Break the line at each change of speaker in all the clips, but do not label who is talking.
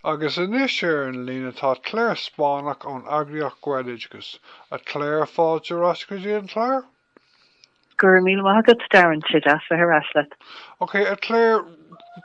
Agus anois ar an líne atá Clare Spáinneach ón eagraíocht Gaeloideachas. A Clare, fáilte ar ais go dtí an clár. Go raibh míle maith agat Darren, tá sé deas bheith ar ais leat. Ok a Clare,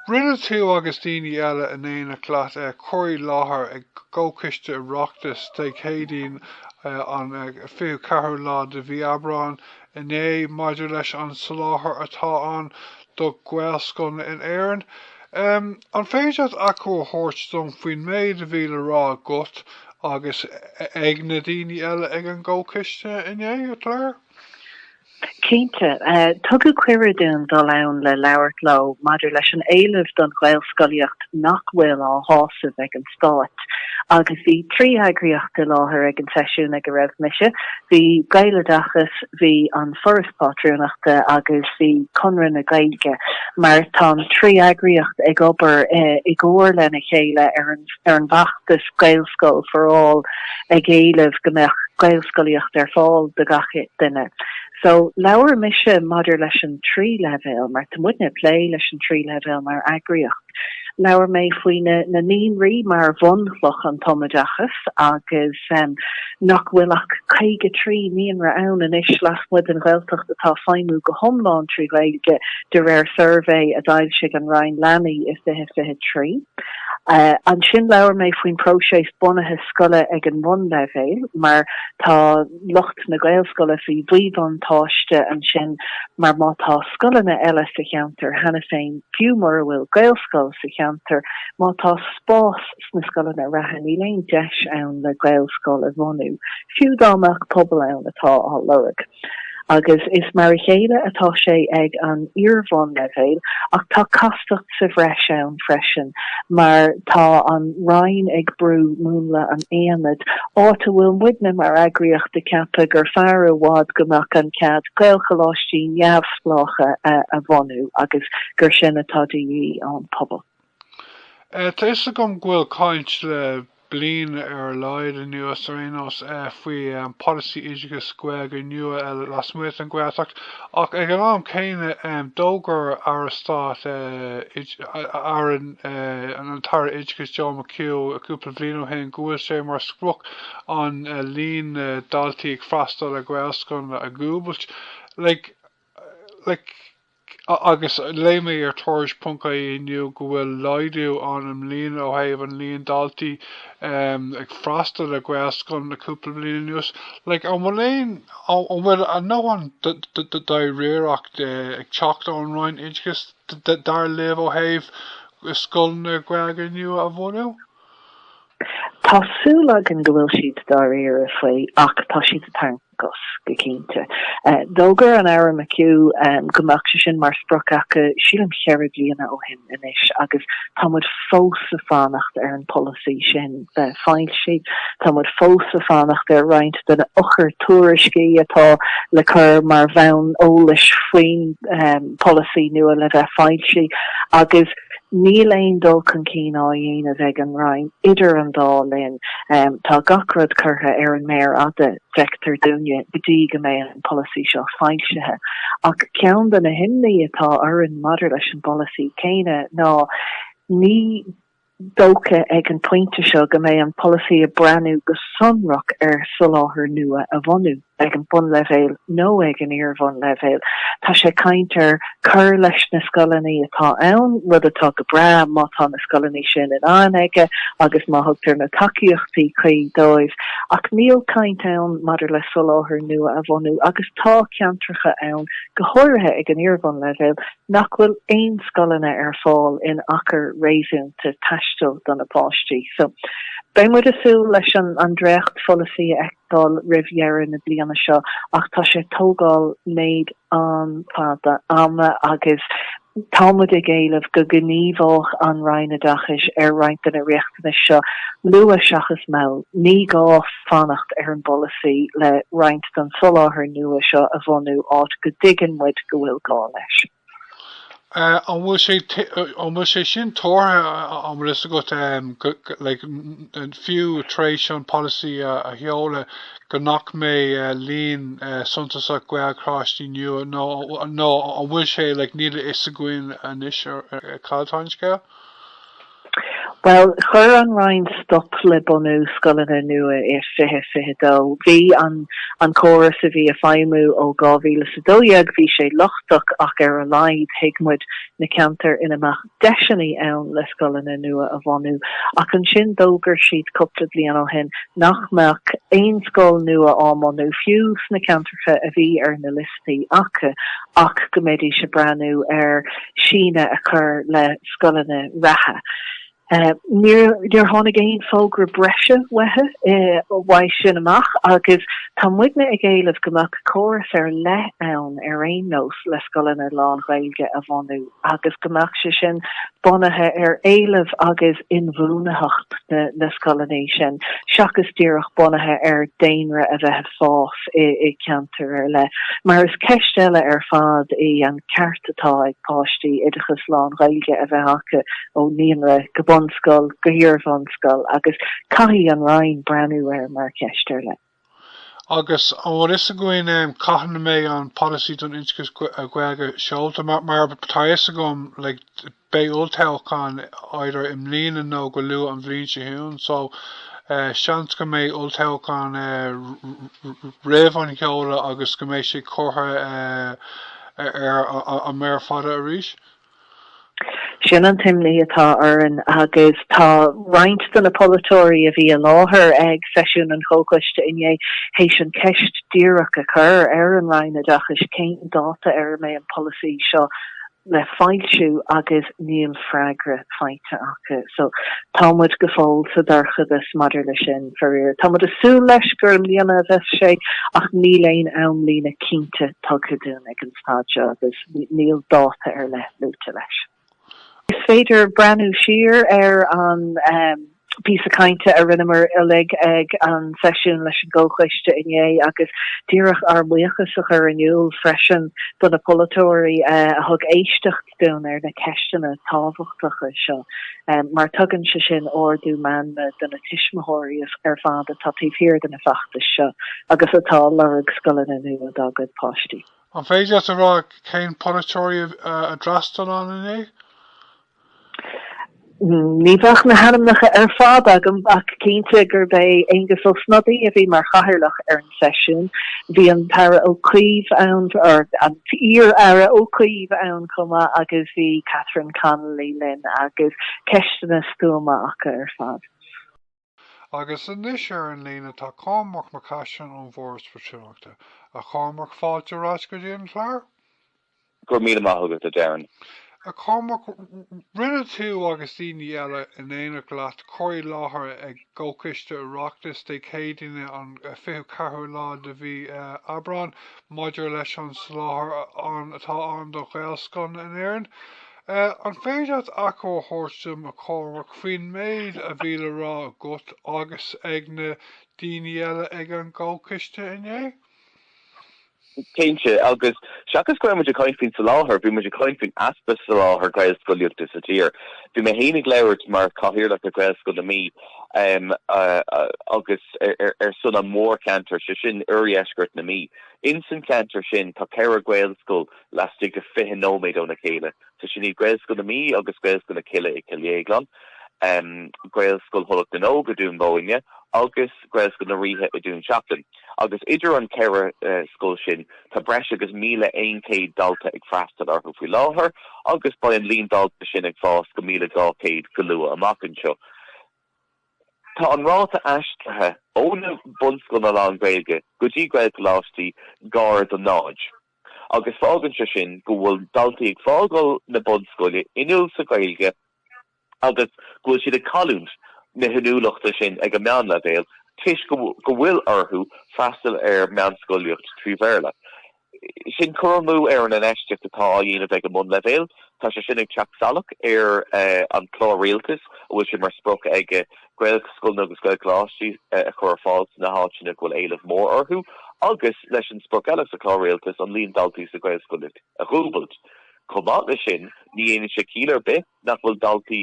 rinne tú agus daoine eile in éineacht leat cur i láthair i gComhchoiste Oireachtais Dé Céadaoin an 24ú lá de mhí Aibreáin inné maidir leis an soláthar atá ann do Ghaelscoileanna in Éirinn. An féidir leat achoimre a thabhairt dom faoin méid a bhí le rá agat agus ag na daoine eile ag an gcomhchiste inné, a Clare? Cinnte. Tugadh cuireadh dúinn dul ann le labhairt leo maidir leis an éileamh don Ghaelscolaíocht nach bhfuil á shásamh ag an. stát agus bhí trí eagraíocht i láthair ag an seisiún go raibh mise, bhí Gaeloideachas, bhí An Foras Pátrúnachta agus bhí Conradh na Gaeilge mar tá an trí eagraíocht ag obair i gcomhar lena chéile ar an bhfeachtas Gaelscoil for All ag éileamh go mbeadh Gaelscolaíocht ar fáil do gach duine. So labhair mise maidir leis an trí leibhéal mar tá muidne ag plé leis an trí leibhéal mar eagraíocht. Labhair mé faoi na naíonraí mar bhunchloch an tumoideachais agus nach bhfuil ach 53 naíonra ann anois lasmuigh den Ghaeltacht atá ag feidhmiú go hiomlán trí Ghaeilge de réir suirbhé a d'fhoilsigh an Roinn Leanaí i 2023. Ansin labhair mé faoin bpróiseas bunaithe scoile ag an mbunleibhéal mar tá. lucht na Gaelscoile faoi mhíbhuntáiste ansin mar má tá scoileanna eile sa cheantar cheana féin, fiú mura bhfuil Gaelscoil sa cheantar, má tá spás sna scoileanna reatha níl aon deis ann le Gaelscoil a bhunú, fiú dá mbeadh pobal ann atá á lorg. Agus is mar a chéile atá sé ag an iarbhunleibhéal ach tá castacht sa bhreis ann freisin mar tá an Roinn ag brú múnla an aonaid, áit a bhfuil muidne mar eagraíocht ag ceapadh gur fearr i bhfad go mbeadh an cead Gaelcholáistí neamhspleácha a bhunú agus gur sin atá de dhíth ón bpobal. Tá fhios agam go bhfuil caint le. bliain ar a laghad anuas ar aon nós faoi pholasaí oideachais Gaeilge nua eile lasmuigh den Ghaeltacht ach ag an am céanna d'fhógair Aire Stáit, Aire an tAire Oideachais Joe McHugh cúpla bliain ó shin go bhfuil sé mar sprioc an líon daltaí ag freastal ar Ghaelscoileanna a dhúbailt. Like. Like. agus léigh mé ar Tuairisc ponc ie inniu go bhfuil laghdú ann ó bhliain ó thaobh an líon daltaí ag freastal ar ghaelscoileanna le cúpla bliain anuas like an bhfuil aon an bhfuil a ndóthain dáiríreachta ag teacht ón Roinn Oideachais dar libh ó thaobh scoileanna Gaeilge nua a bhunú? Tá súil againn go bhfuil siad dáiríre faoi ach tá siad ag tarraingt. agus go cinnte, d'fhógair an Aire McHugh go mbeadh sé sin mar sprioc acu, sílim cheithre bliana ó shin anois, agus tá muid fós ag fanacht ar an polasaí sin bheith foilsithe. Tá muid fós ag fanacht ar roinnt de na eochair-tuairiscí atá le cur mar bhonn eolais faoin polasaí nua le bheith foilsithe, agus. Níl aon dul chun cinn á dhéanamh ag an Roinn idir an dá linn. Tá gach rud curtha ar an méar fhada, feictear dúinne, go dtí go mbeidh an polasaí seo foilsithe. Ach ceann de na himní atá orainn maidir leis an bpolasaí céanna ná ní dócha ag an bpointe seo go mbeidh an polasaí ag breathnú go sonrach ar soláthar nua a bhunú. ag an mbunleibhéal nó ag an iar-bhunleibhéal. Tá sé ag caint ar cur leis na scoileanna atá ann, rud atá go breá má tá na scoileanna sin in ann chuige agus má thugtar na tacaíochtaí cuí dóibh, ach níl caint ann maidir le soláthar nua a bhunú agus tá ceantracha ann, go háirithe ag an iar-bhunleibhéal, nach bhfuil aon scoileanna ar fáil in achar réasúnta taistil do na páistí. So beidh muid ag súil leis an dréacht-pholasaí a fheic. dul roimh dheireadh na bliana seo ach tá sé tógáil méid an-fhada ama agus tá muid ag éileamh go ngníomhódh an Roinn Oideachais ar roinnt de na riachtanais seo luath seachas mall. Ní gá fanacht ar an bpolasaí le roinnt den soláthar nua seo a bhunú áit go dtuigeann muid go bhfuil gá leis. An bhfuil sé, an bhfuil sé sin tuartha, an bhfuil a fhios agat, like, fiú tar éis an polasaí a sheoladh, go nach mbeidh líon suntasach Gaelcholáistí nua, nó, nó an bhfuil sé, like, níl a fhios againn anois cad atá an scéal? Bhuel, chuir an Roinn stop le bunú scoileanna nua i 2022. Bhí an an córas a bhí ag feidhmiú ó 2012, bhí sé lochtach ach ar a laghad thuig muid na ceantair ina mbeadh deiseannaí ann le scoileanna nua a bhunú. Ach ansin d'fhógair siad cúpla bliain ó shin nach mbeadh aon scoil nua á mbunú, fiú sna ceantracha a bhí ar na. cúrsaí acu ach go mbeidís ag breathnú ar shíneadh a chur le scoileanna reatha. Níor tháinig aon fógra breise uathu uaidh sin amach agus tá muidne ag éileamh go mbeadh córas ar leith ann ar aon nós le scoileanna lán-Ghaeilge a bhunú. agus go mbeadh sé sin bunaithe ar éileamh agus inbhuanaitheacht na scoileanna sin seachas díreach bunaithe ar daonra a bheith ag fás i gceantar ar leith, mar is ceist eile ar fad í an ceart atá ag páistí oideachas lán-Ghaeilge a bheith acu ó naíonra go bunscoil go hiarbhunscoil agus caithfidh an Roinn breathnú air mar cheist ar leith. Agus an bhfuil fhios againn cathain a mbeidh an Polasaí don Oideachas Gaeilge seolta? Mar atá fhios agam, like, beidh olltoghchán either i mbliana nó go luath an bhliain seo chugainn, so seans go mbeidh olltoghchán roimh an sheoladh agus go mbeidh sé curtha ar an mhéar fhada arís. Sin an t-imní atá orainn agus tá roinnt de na polaiteoirí a bhí i láthair ag seisiún an chomhchoiste inné théis an cheist díreach a chur ar an Roinn Oideachais cén dáta ar a mbeidh an polasaí seo le foilsiú agus níl freagra faighte acu. So tá muid go fóill sa dorchadas maidir leis sin. Faraor, tá muid ag súil leis gur i mbliana a bheas sé ach níl aon amlíne cinnte tugtha dúinn ag an caite agus níl dáta ar leith luaite leis. Is féidir breathnú siar ar an bpíosa cainte a rinneamar uilig ag an seisiún leis an gComhchoiste inné agus díreach ár mbuíochas a chur in iúl freisin do na polaiteoirí a thug éisteacht. dúinn ar na ceisteanna tábhachtacha seo mar tugann sé sin ardú meanma do na tuismitheoirí ar fad atá taobh thiar de na feachtais seo agus atá ag lorg scoileanna nua dá gcuid páistí. An féidir leat a rá cén polaiteoirí a d'fhreastail ann inné? Ní bheadh na hainmneacha ar fad agam ach cinnte gurb é Aengus Ó Snodaigh a bhí mar chathaoirleach ar an seisiún. Bhí an tAire Ó Cuív ann, or an t-iar-Aire Ó Cuív ann chomh maith agus bhí Catherine Connolly linn agus ceisteanna stuama acu ar fad. Agus anois ar an líne tá Cormac Mac Caisín ón bhForas Pátrúnachta. A Chormaic, fáilte ar ais go dtí an clár. Go raibh míle maith agat, a Darren. A Chormaic, rinne tú agus daoine eile in éineacht leat cur i láthair ag Comhchoiste Oireachtais Dé Céadaoine an 24ú lá de mhí Aibreáin maidir leis an soláthar atá ann do Ghaelscoileanna in Éirinn. An féidir leat achoimre a thabhairt dom ar an gcomhrá faoin méid a bhí le rá agat agus ag na daoine eile ag an gcomhchiste inné? Cinnte, agus seachas go raibh muid ag caint faoin soláthar, bhí muid ag caint faoin easpa soláthair Gaelscolaíochta sa tír. Bhí mé féin ag labhairt mar chathaoirleach ar Ghaelscoil na Mí agus ar son an mhórcheantair, sé sin oirdheisceart na Mí. Insan cheantar sin tá ceithre Ghaelscoil laistigh de 20 nóiméad óna chéile. So sin iad Gaelscoil na Mí agus Gaelscoil na Cille i Cill Dhéagláin, Gaelscoil Thulach na nÓg i Dún Bóinne agus Gaelscoil na Ríthe i Dún Seachlainn. Agus idir an ceithre scoil sin tá breis agus míle aon chéad dalta ag freastal orthu faoi láthair agus beidh an líon dalta sin ag fás go míle dhá chéad go luath amach anseo. Tá an ráta aistrithe ó na bunscoileanna lán-Ghaeilge go dtí Gaelcholáistí gar do náid. agus fágann sé sin go bhfuil daltaí ag fágáil na bunscoile inniúil sa Ghaeilge agus go bhfuil siad ag cailliúint na hinniúlachta sin ag an meánleibhéal toisc go bhfuil orthu freastal ar mheánscolaíocht trí Bhéarla. Sin cur amú ar an infheistíocht atá á dhéanamh ag an mbunleibhéal. Tá sé sin ag teacht salach ar an Chlár Rialtais a bhfuil sé mar sprioc aige Gaelscoileanna agus Gaelcholáistí a chur ar fáil sna háiteanna go bhfuil éileamh mór orthu agus leis an sprioc eile sa Chlár Rialtais, an líon daltaí sa Ghaelscolaíocht a dhúbailt. Chomh maith leis sin, ní dhéanann sé ciall ar bith nach bhfuil daltaí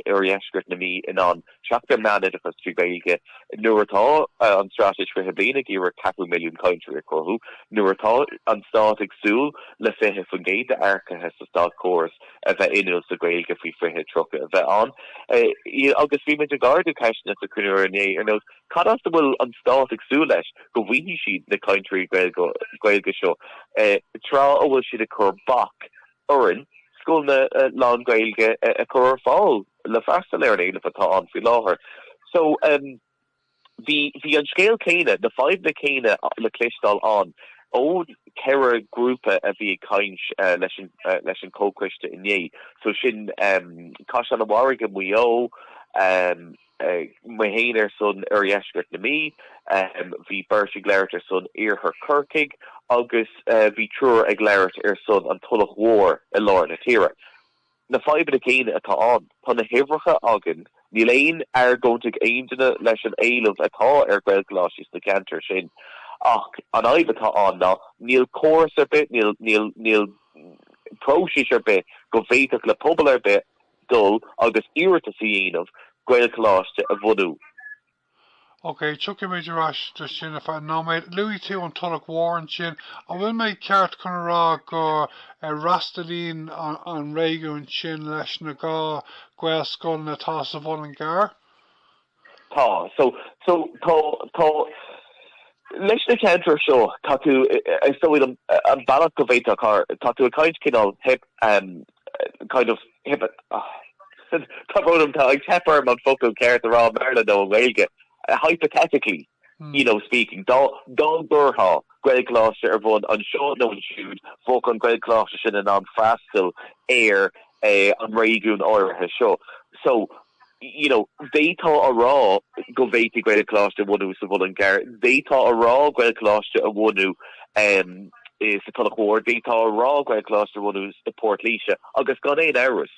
oirdheisceart na Mí in ann teacht ar meánoideachas trí Ghaeilge nuair atá an Straitéis 20 Bliain ag iarraidh ceathrú milliún cainteoirí a chruthú, nuair atá an Stát ag súil le 20% d'earcaithe sa státchóras, a bheith inniúil sa Ghaeilge faoi 2030 a bheith ann. Agus bhí muid ag ardú ceisteanna sa chruinniú inné ar nós cad as a bhfuil an Stát ag súil leis go bhfaighidh siad na cainteoirí Gaeilge seo tráth a bhfuil siad ag cur bac orainn scoileanna lán-Ghaeilge a chur ar fáil le freastal ar an éileamh atá ann faoi láthair. Bhí an scéal céanna, na fadhbanna céanna le cloisteáil ann ón cheithre ghrúpa a bhí ag caint leis an chomhchoiste inné, so sin Caisleán an Bharraigh i Maigh Eo, mé féin ar son oirdheisceart na Mí, bhí beirt ag labhairt ar son iarthar Chorcaigh agus bhí triúr ag labhairt ar son an Tulach Mhór i lár na tíre. Na fadhbanna céanna atá ann. Tá na huimhreacha againn. Níl aon argóint ag aonduine leis an éileamh atá ar Ghaelcholáistí sna ceantair sin ach an fhadhb atá ann ná níl córas ar bith, níl, níl, níl próisis ar bith go bhféadfadh le pobal ar bith dul agus iarratas a dhéanamh Gaelcholáiste a bhunú. Ok, tiocfaimid ar ais chuige sin i gceann nóiméid. Luaigh tú an Tulach Mhór ansin. An bhfuil mé ceart chun a rá go bhfreastalaíonn an réigiún sin leis na dhá Ghaelscoileanna atá sa Mhuileann gCearr? Tá. So, so, tá, tá. Leis na ceantair seo, tá tú, is dóigh liom, an bealach go bhféadfadh, tá tú ag caint cineál, hyp, kind of hypo tá brón orm, tá sé ag teip orm an focal ceart a rá i mBéarla nó i nGaeilge, hypothetically, you know, speaking, dá dá gcuirfeá Gaelcholáiste ar bhun anseo nó ansiúd, bheadh an Gaelcholáiste sin in ann freastal ar an réigiún áirithe seo. So, you know, d'fhéadfá a rá go bhféadfaí Gaelcholáiste a bhunú sa Mhuileann gCearr, d'fhéadfá a rá Gaelcholáiste a bhunú em eh sa Tulach Mhór, d'fhéadfá a rá Gaelcholáiste a bhunú i bPort Laoise agus gan aon amhras,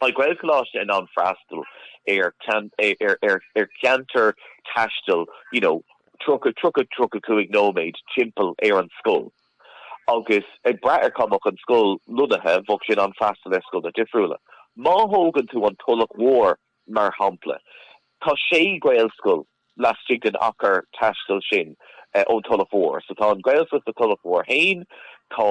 bheadh Gaelcholáiste in ann freastal ar cean- eh ar ar ar cheantar taistil you know tríocha, tríocha, tríocha cúig nóiméad timpeall ar an scoil. Agus ag brath ar cá mbeadh an scoil lonnaithe, bheadh sin ag freastal ar scoileanna difriúla. Má thógann tú an Tulach Mhór, mar shampla, tá sé Gaelscoil laistigh den achar taistil sin ón Tulach Mhór. So tá an Gaelscoil sa Tulach Mhór féin, tá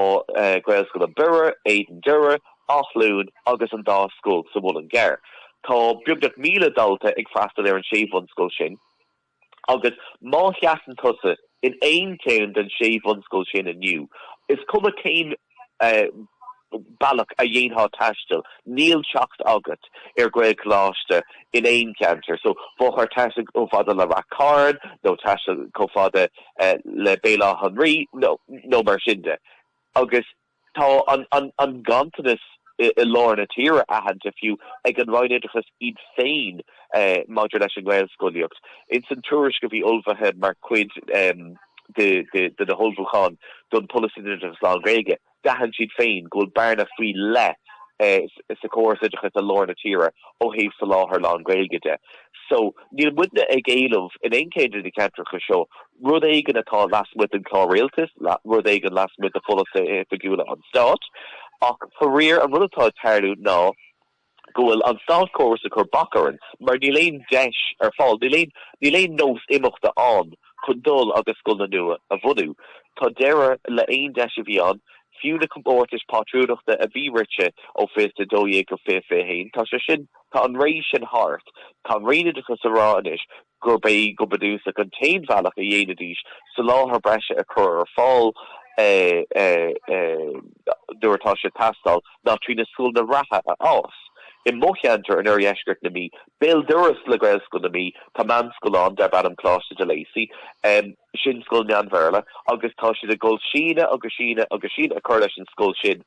Gaelscoil i mBiorra, Éadan Doire, Áth Luain agus an dá scoil sa Mhuileann gCearr. Tá beagnach míle dalta ag freastal ar an sé bhunscoil sin. Agus má sheasann tusa in aon cheann den sé bhunscoil sin inniu, is cuma cén bealach a dhéanfá taisteal, níl teacht agat ar Ghaelcholáiste in aon cheantar. So, bheifeá ag taisteal chomh fada le Ráth Chairn, nó taisteal chomh fada le Baile Átha an Rí, nó mar sin de. Agus Tá an ganntanas i lár na tíre aitheanta, fiú, ag an Roinn Oideachais iad féin maidir leis an ngaelscolaíocht. Ins an tuairisc a bhí ullmhaithe mar chuid de na hullmhúcháin don Pholasaí don Oideachas Lán-Ghaeilge, d'aithin siad féin go bhfuil bearna faoi leith sa chóras oideachais i lár na tíre ó thaobh soláthar lán-Ghaeilge de. So, níl muidne ag éileamh in aon cheann de na ceantracha seo rud éigin atá lasmuigh den Chlár Rialtais, rud éigin lasmuigh de pholasaithe oifigiúla an Stáit. Ach faraor, an rud atá ag tarlú ná go bhfuil an Státchóras ag cur bac orainn mar níl aon deis ar fáil, níl aon, níl aon nós imeachta ann chun dul agus scoileanna nua a bhunú. Tá deireadh le haon deis a bhí ann, fiú na comórtais pátrúnachta a bhí rite ó 20 12 go 20 21, tá sé sin, tá an ré sin thart. Tá an Roinn Oideachais ag rá anois gurb é go bunúsach an t-aon bhealach a dhéanfaidís soláthar breise a chur ar fáil nuair atá sé ag teastáil ná trí na scoileanna reatha a fhás. I mo cheantar, in oirdheisceart na Mí, béal dorais le Gaelscoil na Mí, tá meánscoil ann darb ainm Coláiste de Lacy. Sin scoil meán Bhéarla agus tá siad ag cur síneadh agus síneadh agus síneadh a chur leis an scoil sin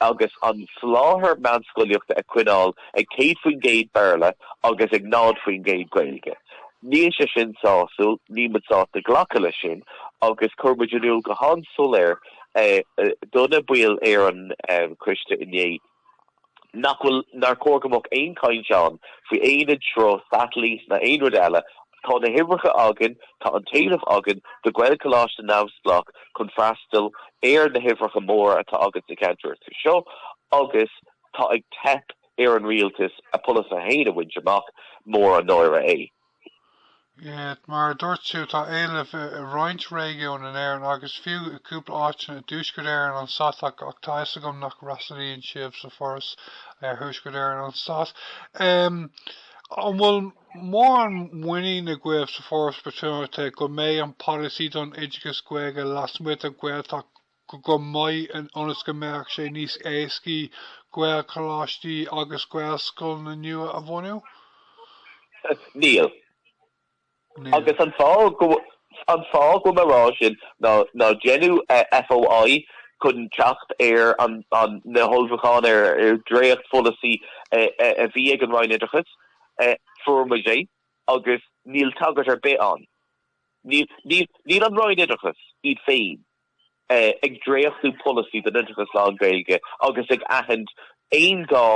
agus an soláthar meánscolaíochta a choinneáil ag 100% Béarla agus ag 0% Gaeilge. Níl sé sin sásúil, níl muid sásta glacadh leis sin agus chuir muid in iúl go han-soiléir do na baill ar an choiste inné nach bhfuil, nár chóir go mbeadh aon chaint ann faoi aonad, sruth, satailít ná aon rud eile Tá na huimhreacha againn, tá an t-éileamh againn do Ghaelcholáiste neamhspleách chun freastal ar na huimhreacha móra atá againn sna ceantracha seo agus tá ag teip ar an rialtas a pholasaithe féin a bhaint amach, mór an náire é. Mar a dúirt tú, tá éileamh i roinnt réigiúin in Éirinn agus fiú i gcúpla áiteanna i dTuaisceart Éireann, an stát, ach tá a fhios agam nach bhfreastalaíonn sibh sa bhForas ar Thuaisceart Éireann, an stát. An bhfuil. Mórán muiníne agaibh sa Foras Pátrúnachta go mbeidh an polasaí don oideachas Gaeilge lasmuigh den Ghaeltacht go maith ionas go mbeadh sé níos éascaí Gaelcholáistí agus Gaelscoileanna nua a bhunú? Níl. Níl. Agus an fáth go an fáth go bhfuil mé rá sin ná ná déanadh FOI chun teacht ar an na hullmhúcháin ar dhréachtpholasaí a bhí ag an Roinn Oideachais Fuair muid é agus níl tagairt ar bith ann. Níl an Roinn Oideachais iad féin ag dréachtú polasaí don oideachas lán-Ghaeilge agus ag aithint aon ghá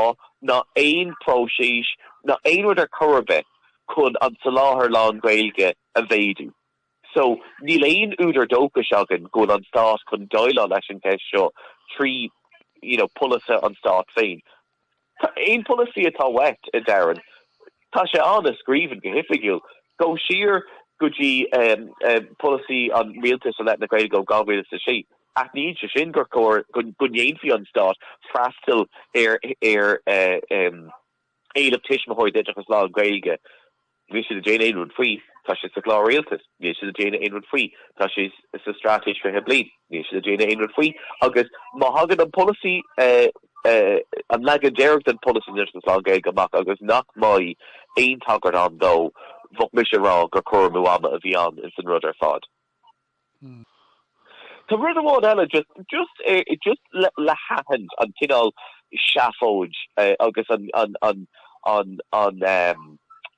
ná aon próiseas ná aon rud ar chor ar bith chun an soláthar lán-Ghaeilge a mhéadú. So, níl aon údar dóchais againn go bhfuil an Stát chun déileáil leis an cheist seo trí, you know, polasaithe an Stáit féin. Aon pholasaí atá uait, a Darren, tá sé ann i scríbhinn, go hoifigiúil. Gabh siar go dtí polasaí an Rialtais i leith na Gaeilge ó 2006, aithníonn sé sin gur chóir go ndéanfadh an Stát freastal ar éileamh tuismitheoirí d'oideachas lán-Ghaeilge. Níl siad ag déanamh aon rud faoi, tá sé sa Chlár Rialtais. Níl siad ag déanamh aon rud faoi, tá sé sa Straitéis 20 Bliain. Níl siad ag déanamh aon rud faoi agus má thagann an polasaí, an leagan deiridh den pholasaí oideachas lán-Ghaeilge amach agus nach mbeidh aon tagairt ann dó, bheadh mise ag rá gur cur amú ama a bhí ann insan rud ar fad. Tá rud amháin eile just just just le haithint an cineál seafóid agus an an an an an um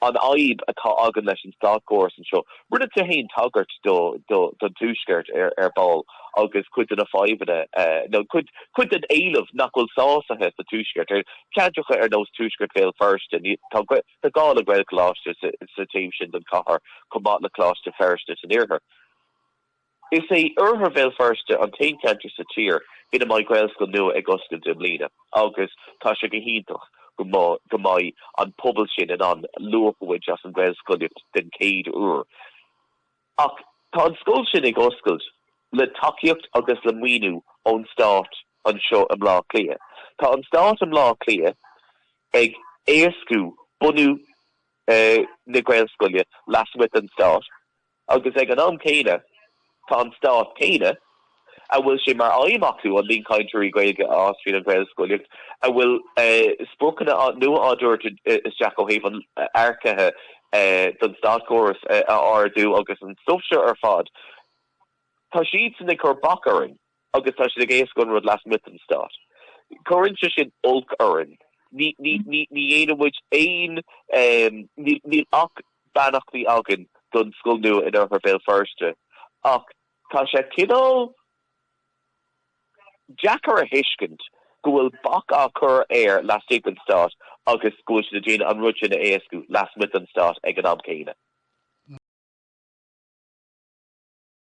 an fhadhb atá againn leis an státchóras anseo. Rinne tú fhéin tagairt do do don Tuaisceart ar ar ball agus cuid de na fadhbanna nó cuid cuid den éileamh nach bhfuil sásaithe sa Tuaisceart ar cheantracha ar nós Tuaisceart Bhéal Feirste. Tá Tá gá le Gaelcholáiste sa taobh sin den chathair chomh maith le Coláiste Feirste san iarthar. Is é oirthear Bhéal Feirste an t-aon cheantar sa tír ina mbeidh Gaelscoil nua ag oscailt i mbliana agus tá sé go hiontach go mbeidh an pobal sin in ann luach a bhaint as an Ghaelscolaíocht den chéad uair. Ach tá an scoil sin ag oscailt, le tacaíocht agus le maoiniú ón stát anseo i mBleá Cliath. Tá an stát i mBleá Cliath ag éascú bunú na gaelscoile lasmuigh den stát agus ag an am céanna tá an stát céanna, a bhfuil sé mar aidhm acu an líon cainteoirí Gaeilge a fhás tríd an Ghaelscolaíocht, a bhfuil spriocanna nua á dtabhairt isteach ó thaobh an earcaithe don státchóras a ardú agus an stuif seo ar fad, tá siadsan ag cur bac orainn agus tá siad ag éascú an rud lasmuigh den stát. Cuireann sé sin olc orainn. Ní dhéanann muid aon, níl ach beannachtaí againn don scoil nua in oirthear Bhéal Feirste ach Tá sé cineál deacair a thuiscint go bhfuil bac á chur air laistigh den Stát agus go bhfuil siad ag déanamh an rud sin a éascú lasmuigh den Stát ag an am céanna.